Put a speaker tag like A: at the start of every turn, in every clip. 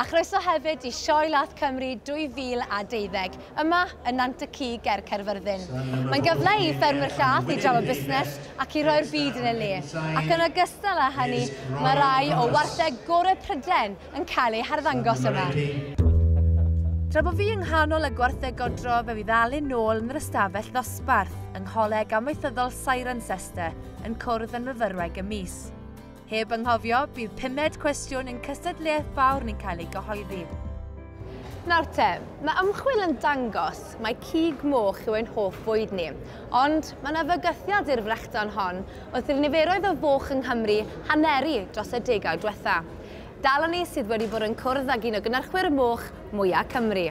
A: A chroeso hefyd i Sioe Lath Cymru 2012, yma yn Nant y Cig ger Caerfyrddin. Mae'n gyfle i ffermwyr llath i drafod busnes ac i roi'r byd yn ei le, ac yn ogystal â hynny, mae rhai o wartheg gorau Prydain yn cael eu harddangos yma. Tra bo fi yng nghanol y gwartheg godro fe fydd Alun nôl yn yr ystafell ddosbarth yng Ngholeg Amaethyddol Cirencester yn cwrdd yn fyfyrwraig y mis. Heb anghofio, bydd pumed cwestiwn yn cystadleuaeth fawr yn cael ei gyhoeddi. Nawr te, mae ymchwil yn dangos mae cig moch yw ein hoff fwyd ni, ond mae yna fygythiad i'r frechdan hon wrth i'r niferoedd o foch yng Nghymru haneru dros y degawd diwetha'. Dal â ni sydd wedi bod yn cwrdd ag un o gynyrchwyr moch mwya' Cymru.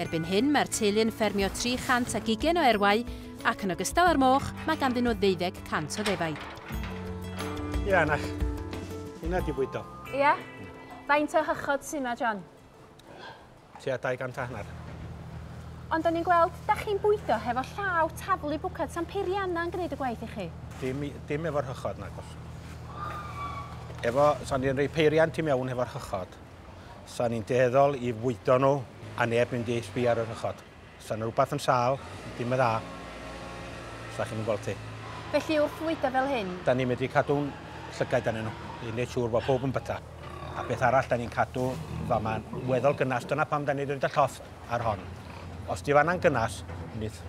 A: Erbyn hyn, mae'r teulu yn ffermio 300 ac ugain o erwau, ac yn ogystal â'r moch, mae ganddyn nhw ddeuddeg cant o ddefaid.
B: Ia, Anach. Hynna di bwydo. Ia?
A: Faint o hychod sy yma, John?
B: Tua 200 a hanner. Ond
A: o'n i'n gweld, da chi'n bwydo hefo llaw taflu bwcad San Peirianna yn gwneud y gwaith i chi. Dim, dim efo'r
B: hychod, nagos. Efo, so ni'n rhoi peiriant i mewn hefo'r hychod. 'Sa ni'n dueddol i fwydo nhw a neb mynd i sbio ar y rhychod. 'Sa 'na rhywbeth yn sâl, dim yn dda. 'Sa chi'm yn gweld ti. Felly wrth fwydo
A: fel hyn? 'Da ni'n medru cadw'n
B: llygaid arnyn nhw i wneud siŵr bod pawb yn byta. A beth arall 'da ni'n cadw fama'n weddol gynnas, dyna pam 'da ni 'di roid y llofft ar hon. Os 'di fanna'n gynnas, nith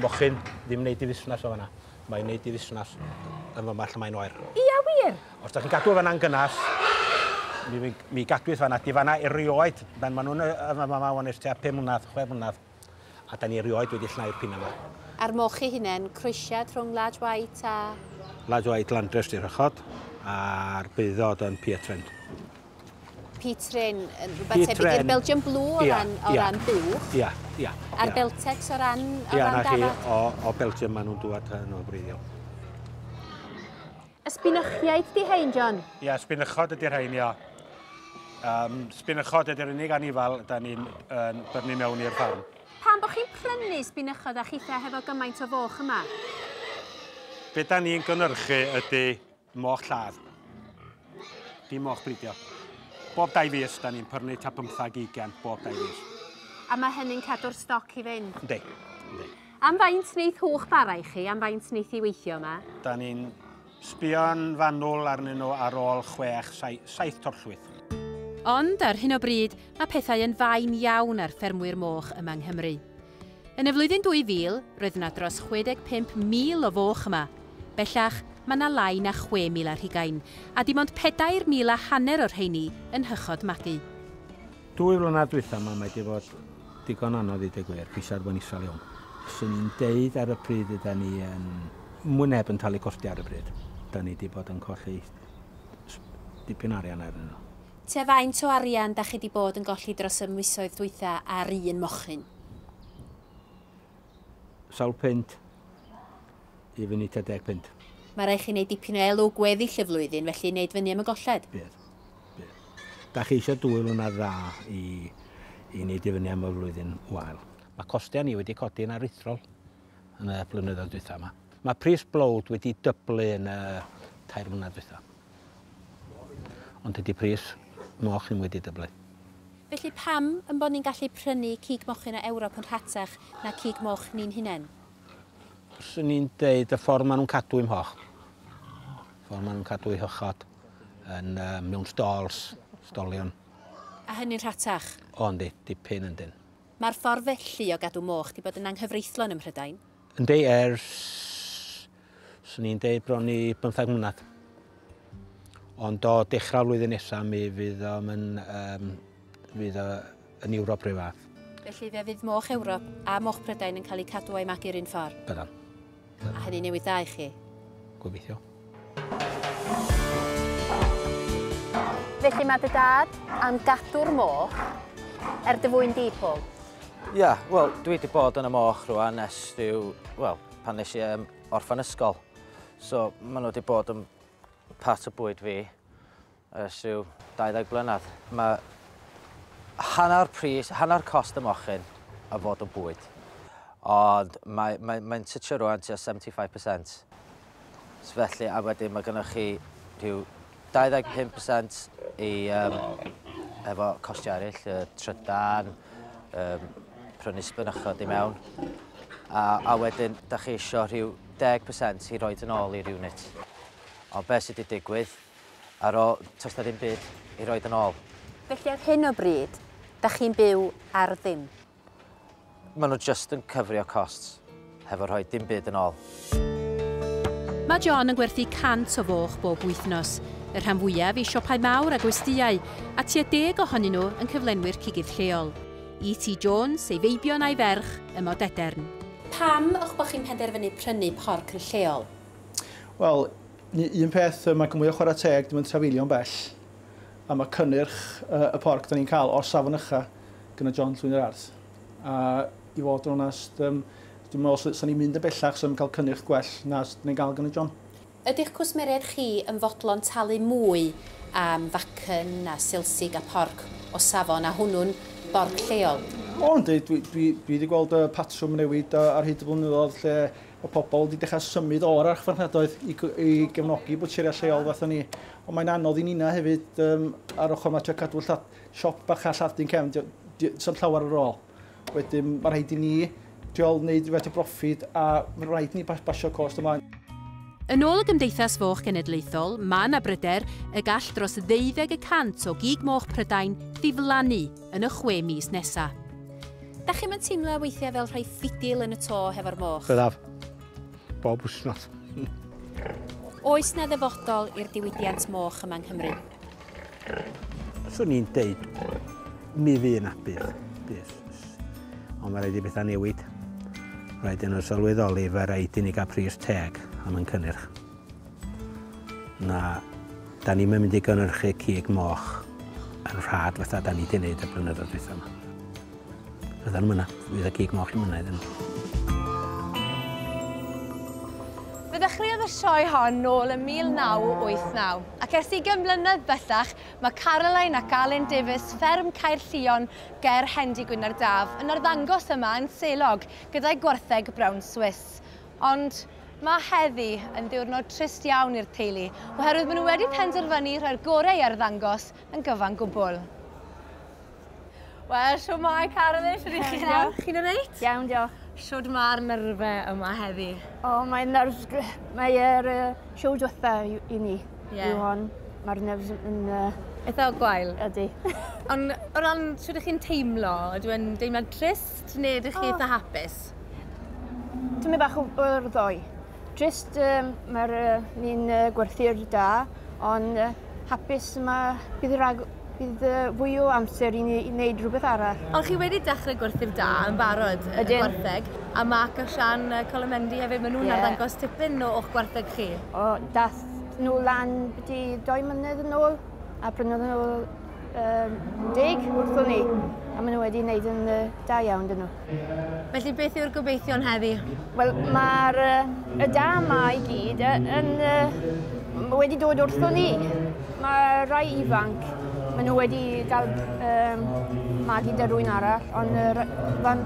B: mochyn ddim wneud ei fusnes o fanna. Mae'n neud i fusnes yn fy march mae'n oer. Ia wir? Os
A: da chi'n cadw fan a'n
B: gynnas, mi, mi, mi gadwyd fan a di fan a erioed, ben maen nhw'n yn fy mama o'n eich tua 5 mlynedd, 6 mlynedd, a da ni erioed wedi llnau'r pin yma. Ar moch chi hunen,
A: croesiad rhwng Large White a... Large White
B: Landrace di rhychod, a'r beudod yn Pier Trent.
A: P-Train yn rhywbeth tebyg i'r Belgian Blue o ran, o ran buwch. Ia, ia. A'r
B: Beltex
A: o ran, o ia, ran dafod. Ia, o, o
B: Belgium maen nhw'n dŵad yn o breiddiol. Y
A: sbynychiaid di hein, John? Ia, sbynychod ydy'r
B: hein, ia. Um, sbynychod ydy'r unig anifal da ni'n uh, byrnu mewn i'r ffarm. Pam bod chi'n prynu
A: sbynychod a chitha hefo gymaint o foch yma?
B: Be da ni'n gynhyrchu ydy Moch lladd. Dim moch bridio. Bob dau fus, da ni'n pyrnu ta bymthag ugen bob dau fus. A mae hynny'n
A: cadw'r stoc i fynd? Ynddi. Ynddi.
B: Am
A: faint wneith hwch bara i chi? Am faint wneith i weithio yma? Da ni'n
B: sbio'n fanwl arnyn nhw ar ôl chwech, saith torllwyth. Ond
A: ar hyn o bryd, mae pethau yn fain iawn ar ffermwyr moch yma yng Nghymru. Yn y flwyddyn 2000, roedd yna dros 65,000 o foch yma. Bellach, mae yna lai na 6,000 ar hugain, a dim ond pedair mil a hanner o'r rheiny yn Nhychod Magu. Dwy
B: flynedd dwytha 'ma mae 'di fod digon anodd i deu gwir, pwysa bo'n isal iawn. Swn i'n deud ar y pryd yda ni yn mwy neb yn talu costia ar y pryd. Da ni 'di bod yn colli dipyn o arian arnyn nhw. Tua faint o
A: arian dach chi di bod yn golli dros y misoedd dwytha ar un mochyn?
B: Sawl punt i fyny tua deg punt. Mae rhaid chi wneud
A: dipyn o elw gweddill y flwyddyn felly wneud fyny am y golled. Bydd. Bydd.
B: Dach chi eisiau dwy lwynedd dda i i wneud i fyny am y flwyddyn wael. Mae costau ni wedi codi'n aruthrol yn y blynyddoedd dwytha yma. Mae pris blowd wedi dyblu yn y tair mlynedd dwytha. Ond tydi pris moch ddim wedi dyblu. Felly pam
A: ein bod ni'n gallu prynu cig mochyn o Ewrop yn rhatach na cig moch ni'n hunain?
B: Swn i'n deud y ffordd maen nhw'n cadw i'm hoch. Y ffordd maen nhw'n cadw i hychod yn uh, mewn stalls, stolion. A
A: hynny'n rhatach? O, yndi, dipyn
B: yndyn. Mae'r ffordd felly
A: o gadw moch di bod yn anghyfreithlon ym Mhrydain. Yndi,
B: ers, swn i'n deud bron i bymthag mlynedd. Ond o dechrau'r flwyddyn nesaf mi fydd o'n yn, um, fydd o yn Ewrop rhyw fath. Felly fe fydd moch
A: Ewrop a moch Prydain yn cael eu cadw a'i magu'r un ffordd? Byddan.
B: A hynny
A: newid dda i chi? Gobeithio. Felly mae dy dad am gadw'r moch er dy fwyn di, Paul? Ia, wel,
C: dwi wedi bod yn y moch rwan ers rhyw, wel, pan nes i um, orffan ysgol. So, maen nhw wedi bod yn part o bwyd fi. Ers rhyw 20 blynedd, mae hanner pris, hanner cost y mochyn a fod o bwyd. Ond mae, mae, mae'n tytio rwan tua 75%. So felly, a wedyn mae gennych chi rhyw 25% i, um, efo costiau eraill, y trydan, um, prynu sbynychod i mewn. A, a wedyn, da chi eisiau rhyw 10% i roed yn ôl i'r unit. Ond beth sydd wedi digwydd, Ar ôl, toes na ddim byd i roid yn ôl. Felly ar hyn o
A: bryd, da chi'n byw ar ddim?
C: Maen nhw jyst yn cyfrio costs hefo rhoi dim byd yn ôl.
D: Mae John yn gwerthu 100 o foch bob wythnos, y rhan fwyaf i siopau mawr a gwestyau, a tua deg ohonyn nhw yn cyflenwi'r cigydd lleol. E.T. Jones, ei feibion a'i ferch, ym Modedern. Pam o'ch bod chi'n penderfynu prynu porc yn lleol? Wel,
E: Ni un peth yy ma' gmwya chwara teg dim yn trafeilio'n bell a ma' cynnyrch yy y porc 'dan ni'n ca'l o'r safon ucha gynna John Llwyn yr Ardd a i fod yn onast yym dwi'm me'wl sy- sa ni'n mynd yn bellach sa ni'n ca'l cynnyrch gwell na s- ni'n ga'l gynna John. Ydi'ch cwsmeriaid
D: chi yn fodlon talu mwy am facen a silsig a porc o safon a hwnnw'n borc lleol? O yndi dwi
E: dwi dwi 'di gweld y patrwm yn newid a- ar hyd y blynyddodd lle Mae pobl wedi dechrau symud o'r archfarchnadoedd i, i gefnogi bwtseriau lleol fath o ni. Ond mae'n anodd i Nina hefyd um, ar ochr mae trio cadw llath, siop bach a lladd dyn cefn, sy'n llawer ar ôl. Wedyn mae rhaid i ni trio wneud rhywbeth o broffid a mae rhaid ni basio cost ymlaen. Yn ôl y
D: Gymdeithas Foch Genedlaethol, mae yna bryder y gall dros ddeuddeg y cant o gig moch Prydain ddiflannu yn y chwe mis nesa. Dach chi'm yn teimlo weithiau fel rhoi ffidil yn y to hefo'r moch? Byddaf.
B: Bob wsnos.
D: Oes na ddyfodol i'r diwydiant moch yma yng Nghymru?
B: Swn i'n deud, mi fydd yna bydd. bydd. Ond mae rhaid i bethau newid. Rhaid yn nhw sylweddoli, fe rhaid i ni gael pris teg am yn cynnyrch. Na, da ni'm yn mynd i gynhyrchu cig moch yn rhad fatha da ni wedi gwneud y blynyddoedd dwytha yma. Fyddan nhw'n mynd, fydd y cig moch yn mynd iddyn nhw.
A: Fe ddechreuodd y sioe hon nôl ym 1989, ac ers ugain mlynedd bellach mae Caroline ac Alun Davies, fferm Caerllion ger Hendy Gwynarddaf, yn arddangos yma yn Selog gyda'u gwartheg brown Swiss. Ond mae heddi yn ddiwrnod trist iawn i'r teulu oherwydd maen nhw wedi penderfynu rhoi'r gorau i arddangos yn gyfan gwbl. Wel, siw mae Carolyn, siwr i chi nawr? Chi'n yn eit? Iawn, diolch. Siwr
F: mae'r
A: nyrfe yma heddi? O, mae'n nerfs...
F: Mae'r uh, siw diwetha i ni. Ie. Yw hon. Mae'r nerfs yn... Uh, Eitha o gwael?
A: Ydy. Ond
F: o
A: ran siwr ydych chi'n teimlo, ydw e'n deimlad trist neu ydych chi oh. eitha hapus?
F: Tymed bach o o'r ddoe. Jyst um, mae'r uh, ni'n uh, gwerthu'r da, ond uh, hapus yma bydd, rag, bydd uh, fwy o amser i ni i wneud rhywbeth arall. Ond chi wedi dechrau
A: gwerthu'r da yn barod y gwartheg, a Mark a Sian uh, Colomendi hefyd, maen nhw'n yeah. arddangos tipyn o o'ch gwartheg chi. O, dath
F: nhw lan byti doi mlynedd yn ôl, a prynodd nhw um, deg wrthwn ni, a maen nhw wedi wneud yn uh, da iawn dyn nhw. Felly beth yw'r
A: gobeithion heddi? Wel, mae'r
F: uh, y da yma i gyd yn uh, wedi dod wrthwn ni. Mae rai ifanc, maen nhw wedi cael um, magu dy rwy'n arall, ond uh, fan,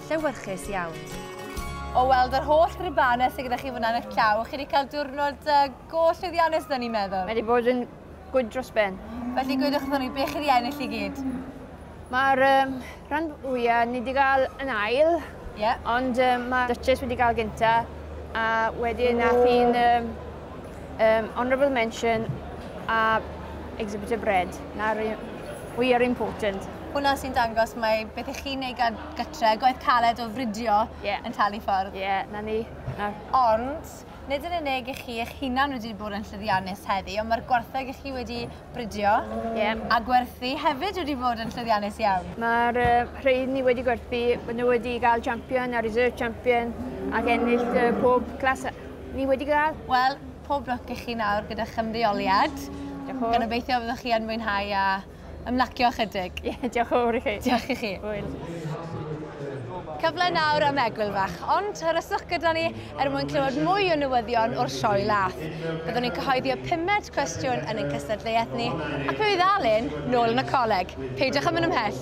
A: llewyrchus iawn. O weld yr holl gribanau sydd gyda chi fyna yn eich llaw, chi wedi cael diwrnod uh, go llwyddiannus dyn ni'n meddwl. Mae wedi bod yn
F: gwyd dros ben. Felly gwydwch wrthyn ni,
A: be chi wedi ennill i gyd? Mae'r
F: um, rhan fwyaf ni wedi cael yn ail, yeah. ond um, mae Duchess wedi cael gynta, a wedyn nath hi'n um, um, honourable mention a exhibitor bread. Na'r we are important. Hwna sy'n dangos
A: mae beth i chi'n ei gad gytre, gwaith caled o fridio yeah. yn talu ffordd. Ie, yeah, na ni.
F: Na. Ond,
A: nid yn unig i chi eich hunan wedi bod yn llyddiannus heddi, ond mae'r gwartheg i chi wedi bridio yeah. a gwerthu hefyd wedi bod yn llyddiannus iawn. Mae'r uh, rhaid
F: ni wedi gwerthu, bod nhw wedi cael champion a reserve champion ac ennill uh, pob clas ni wedi cael. Wel, pob lwc
A: i chi nawr gyda chymreoliad. Diolch. Gan obeithio fyddwch chi yn mwynhau a Ymlacio ychydig. Ie, diolch yn fawr i chi.
F: Diolch i chi. Hwyl.
A: Cyfle nawr am egwyl fach, ond hyryswch gyda ni er mwyn clywed mwy o newyddion o'r sioe lath. Byddwn ni'n cyhoeddi y pumed cwestiwn yn ein cystadleuaeth ni, ac fe fydd Alun nôl yn y coleg. Peidiwch â mynd ymhell.